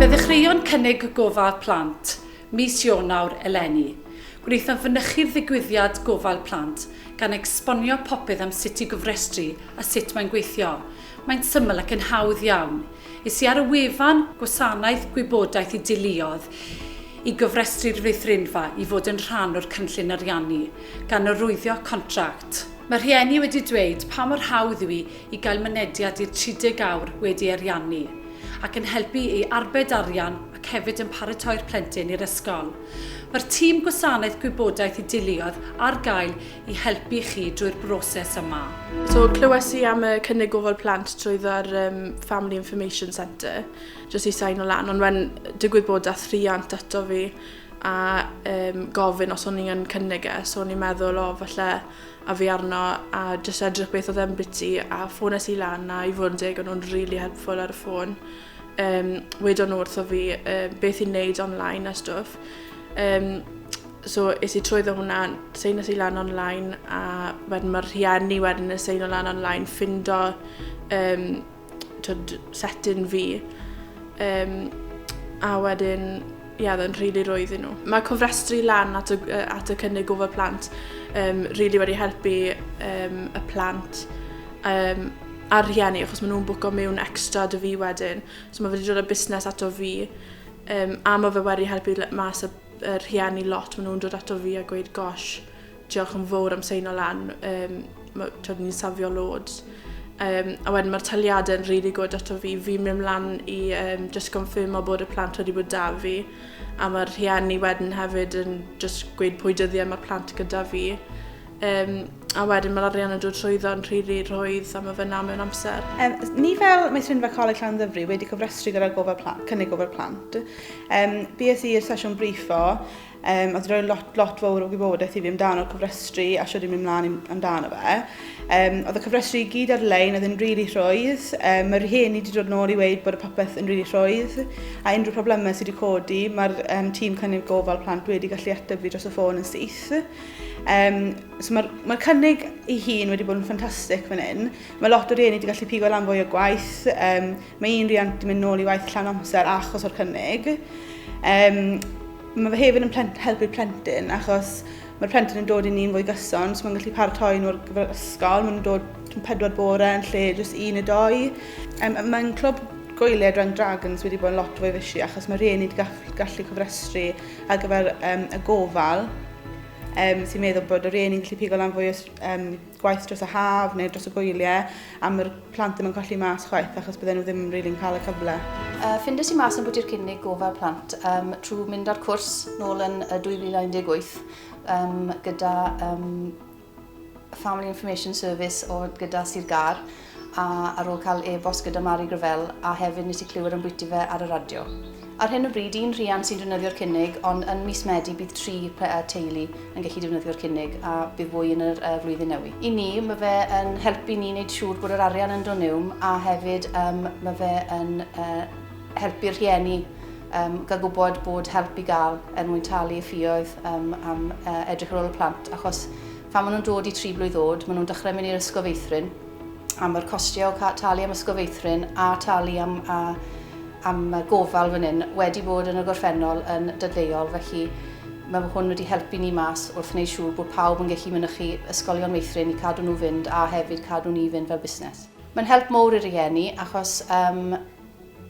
Fe ddechreuon cynnig gofal plant mis Ionawr eleni. Gwnaethom fynychu ddigwyddiad gofal plant gan egsponio popeth am sut i gofrestru a sut mae'n gweithio. Mae'n syml ac yn hawdd iawn. Es i ar y wefan Gwasanaeth Gwybodaeth i Deuluoedd i gofrestru'r feithrinfa i fod yn rhan o'r cynllun ariannu, gan arwyddio contract. Mae rhieni wedi dweud pa mor hawdd yw i gael mynediad i'r 30 awr wedi ei ariannu, ac yn helpu i arbed arian ac hefyd yn paratoi'r plentyn i'r ysgol. Mae'r tîm Gwasanaeth Gwybodaeth i Deuluoedd ar gael i helpu chi drwy'r broses yma. So clywes i am y cynnig gofal plant trwy dda'r um, Family Information Centre, jyst i sain o lan, ond mae'n digwydd bod dath rhiant ato fi a um, gofyn os o'n i'n cynnig e, so o'n i'n meddwl o falle a fi arno a jyst edrych beth oedd e'n biti a ffones i lan a i fod yn deg o'n nhw'n rili really helpful ar y ffôn. Um, wedon nhw wrtho fi um, beth i'n neud online a stwff. Um, So es i trwyddo hwnna, signo i lan online a wedyn mae'r rhieni wedyn yn signo lan online, ffindo um, twyd, setyn fi. Um, a wedyn, ie, yeah, yn rili really i nhw. Mae cofrestru lan at y, at y cynnig gofod plant um, rili really wedi helpu um, y plant um, a rhieni, achos maen nhw'n bwco mewn extra dy fi wedyn. So mae wedi dod â busnes ato fi, um, a mae fe wedi helpu mas y y rhieni lot, maen nhw'n dod ato fi a gweud, gosh, diolch yn fawr am seino lan, um, twyd ni'n safio loads. Um, a wedyn mae'r taliadau yn really good ato fi. Fi'n mynd mlaen i um, just confirmo bod y plant wedi bod da fi. A mae'r rhieni wedyn hefyd yn just gweud pwy dyddiau mae'r plant gyda fi. Yym, a wedyn mae'r arian yn dod trwyddo yn rhiri rhoedd am y fyna mewn amser. Um, ni fel Meithrinfa Coleg Llanddyfri wedi cofrestru gyda'r gofal plant, cynnig gofal plant. Um, BSI i'r sesiwn brifo, um, oedd rhoi lot, lot fawr o gwybodaeth i fi amdano'r cofrestru a siwr i'n mynd mlaen amdano fe. Um, oedd y cofrestru i gyd ar-lein, oedd yn rili really rhwydd. Um, mae rhieni wedi dod nôl i weid bod y popeth yn rili really rhwydd a unrhyw problemau sydd wedi codi, mae'r um, tîm cynnig gofal plant wedi gallu ateb fi dros y ffôn yn syth. Um, so Mae'r ma cynnig ei hun wedi bod yn ffantastig fan hyn. Mae lot o rieni wedi gallu pigo lan fwy o gwaith. Um, mae un riant wedi mynd nôl i waith llan amser achos o'r cynnig. Um, mae fe hefyd yn plent, helpu'r plentyn achos mae'r plentyn yn dod i ni'n fwy gyson, so mae'n gallu paratoi nhw'r gyfer ysgol, mae'n dod yn pedwar bore yn lle jyst un y doi. Um, mae'n clwb gwyliau Drang Dragons wedi bod yn lot o fwy fysi achos mae rhieni wedi gallu cofrestru ar gyfer um, y gofal um, sy'n meddwl bod y rhieni'n gallu pigo lan fwy o um, gwaith dros y haf neu dros y gwyliau a mae'r plant ddim yn colli mas chwaith achos bydden nhw ddim yn rili'n cael y cyfle. Uh, Ffindes i mas yn bod i'r cynnig gofal plant um, trwy mynd ar cwrs nôl yn 2018 um, gyda um, Family Information Service o gyda Sir Gâr a ar ôl cael e-bost gyda Mari Gravell a hefyd nes i clywed ambwyty fe ar y radio. Ar hyn o bryd un rhiant sy'n defnyddio'r cynnig ond yn mis Medi bydd tri teulu yn gallu defnyddio'r cynnig a bydd fwy yn yr flwyddyn newydd. I ni mae fe yn helpu ni wneud siŵr bod yr arian yn dod miwn a hefyd mae fe yn helpu'r rhieni Ym ga gwybod bod help i gael er mwyn talu y ffioedd ym am edrych ar ôl y plant achos phan maen nhw'n dod i tri blwydd ddod maen nhw'n dechrau mynd i'r ysgol feithrin a mae'r costiau o talu am ysgol feithrin a talu am a am gofal fan hyn wedi bod yn y gorffennol yn dyddiol felly mae hwn wedi helpu ni mas wrth wneud siŵr bod pawb yn gallu mynychu ysgolion meithrin i cadw nhw fynd a hefyd cadw ni fynd fel busnes. Mae'n help mowr i rieni achos um,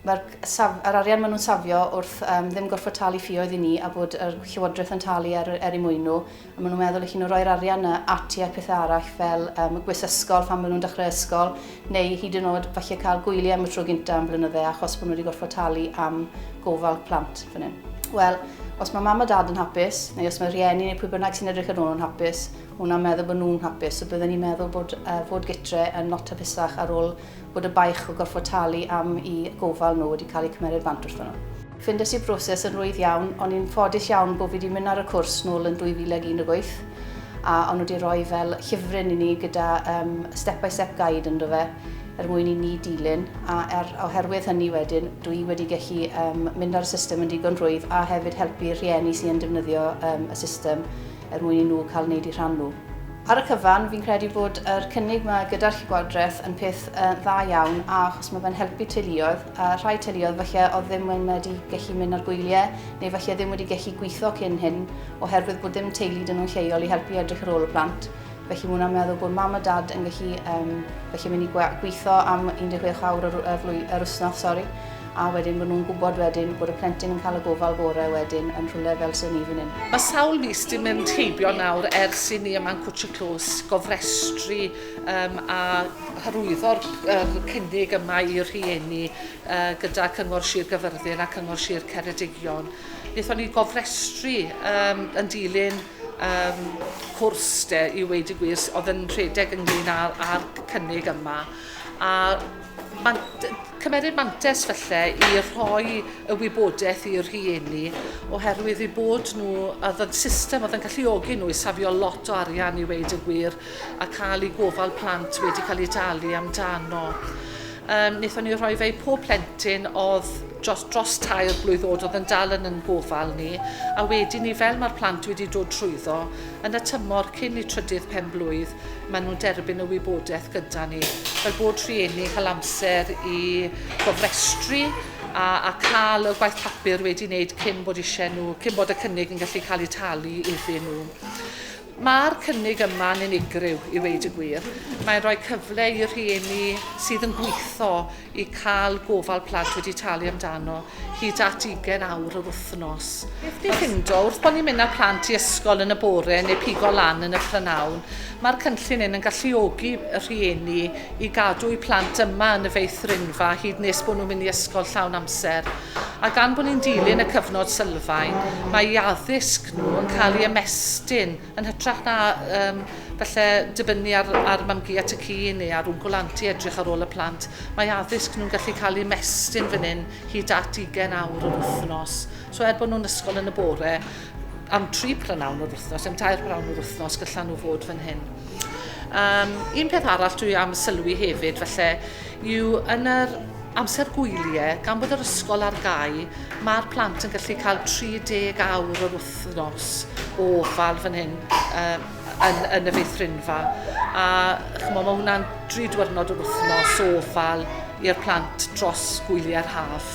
Mae'r saf, yr arian maen nhw'n safio wrth um, ddim gorfod talu ffioedd i ni a bod yr Llywodraeth yn talu er, er i mwyn nhw. A maen nhw'n meddwl eich nhw roi'r arian yna ati ar pethau arall fel um, gwis ysgol phan maen nhw'n dechrau ysgol neu hyd yn oed falle cael gwyliau am y tro gyntaf am blynydde achos bod nhw wedi gorfod talu am gofal plant fan hyn. Wel, os mae mam a dad yn hapus, neu os mae rhieni neu pwy bynnag sy'n edrych yn ôl yn hapus, hwnna'n meddwl bod nhw'n hapus, so byddwn ni'n meddwl bod uh, fod gytre yn lot hapusach ar ôl bod y baich o gorfod talu am i gofal nhw wedi cael eu cymeryd bant wrthon nhw. Ffindes i'r broses yn rwydd iawn, o'n i'n ffodus iawn bod fi wedi mynd ar y cwrs nôl yn 2018 a o'n nhw wedi rhoi fel llyfryn i ni gyda um, step by step guide ynddo fe er mwyn i ni dilyn a er, oherwydd hynny wedyn dwi wedi gallu um, mynd ar y system yn digon rhwydd a hefyd helpu rhieni sy'n defnyddio um, y system er mwyn i nhw cael wneud eu rhan nhw. Ar y cyfan, fi'n credu bod yr cynnig mae gyda'r Llywodraeth yn peth uh, dda iawn a achos mae fe'n helpu teuluoedd, a rhai teuluoedd falle oedd ddim wedi gallu mynd ar gwyliau neu falle ddim wedi gallu gweithio cyn hyn oherwydd bod dim teulu dyn nhw'n lleol i helpu edrych ar ôl y plant. Felly mae hwnna'n meddwl bod mam a dad yn gallu um, felly mynd i gweithio am 16 awr yr, yr, yr wythnos, sori, A wedyn bod nhw'n gwybod wedyn bod y plentyn yn cael y gofal gorau wedyn yn rhywle fel Sir Ni fan hyn. Mae sawl mis di mynd heibio nawr ers i ni yma yn Cwtshire Close gofrestru um, a hyrwyddo'r er, cynnig yma i rhieni uh, gyda Cyngor Sir Gyfyrddin a Cyngor Sir Ceredigion. Nethon ni gofrestru um, yn dilyn um, cwrs de, i weid y gwir, oedd yn rhedeg ynglyn â'r, ar cynnig yma. A Mant- cymeryd mantes falle i rhoi y wybodaeth i'r rhieni oherwydd eu bod nhw, oedd yn system oedd yn galluogi nhw i safio lot o arian i weud y gwir a cael eu gofal plant wedi cael eu dalu amdano. Um, wnaethon ni rhoi fe i pob plentyn oedd dros, dros tair blwydd oed oedd yn dal yn yn gofal ni a wedyn ni fel mae'r plant wedi dod trwyddo yn y tymor cyn i trydydd pen blwydd maen nhw'n derbyn y wybodaeth gyda ni, fel bod rhieni cael amser i gofrestru a, a cael y gwaith papur wedi wneud cyn bod eisiau nhw, cyn bod y cynnig yn gallu cael ei talu iddyn nhw. Mae'r cynnig yma'n unigryw i weid y gwir. Mae'n rhoi cyfle i rhieni sydd yn gweithio i cael gofal plant wedi talu amdano hyd at ugain awr yr wythnos. Beth ni'n ffindo, wrth bod ni'n mynd â'r plant i ysgol yn y bore neu pigo lan yn y prynawn, mae'r cynllun hyn yn galluogi y rhieni i gadw'u plant yma yn y feithrinfa hyd nes bod nhw'n mynd i ysgol llawn amser. A gan bod ni'n dilyn y cyfnod sylfaen, mae ei addysg nhw yn cael ei ymestyn Yn hytrach na um, falle dibynnu ar, ar mamgu at y ci neu ar wncwl anti edrych ar ôl y plant, mae addysg nhw'n gallu cael ei mestyn fan hyn hyd at 20 awr yr wythnos. So er bod nhw'n ysgol yn y bore, am tri prynawn yr wythnos, am tair prynawn yr wythnos, gyllan nhw fod fan hyn. Um, un peth arall dwi am sylwi hefyd, felly, yw yn yr amser gwyliau, gan bod yr ysgol ar gau, mae'r plant yn gallu cael 30 awr o'r wythnos wythnos ofal fan hyn um, yn, yn y feithrinfa a chymod, mae hwnna'n dri diwrnod yr wythnos ofal i'r plant dros gwyliau'r haf.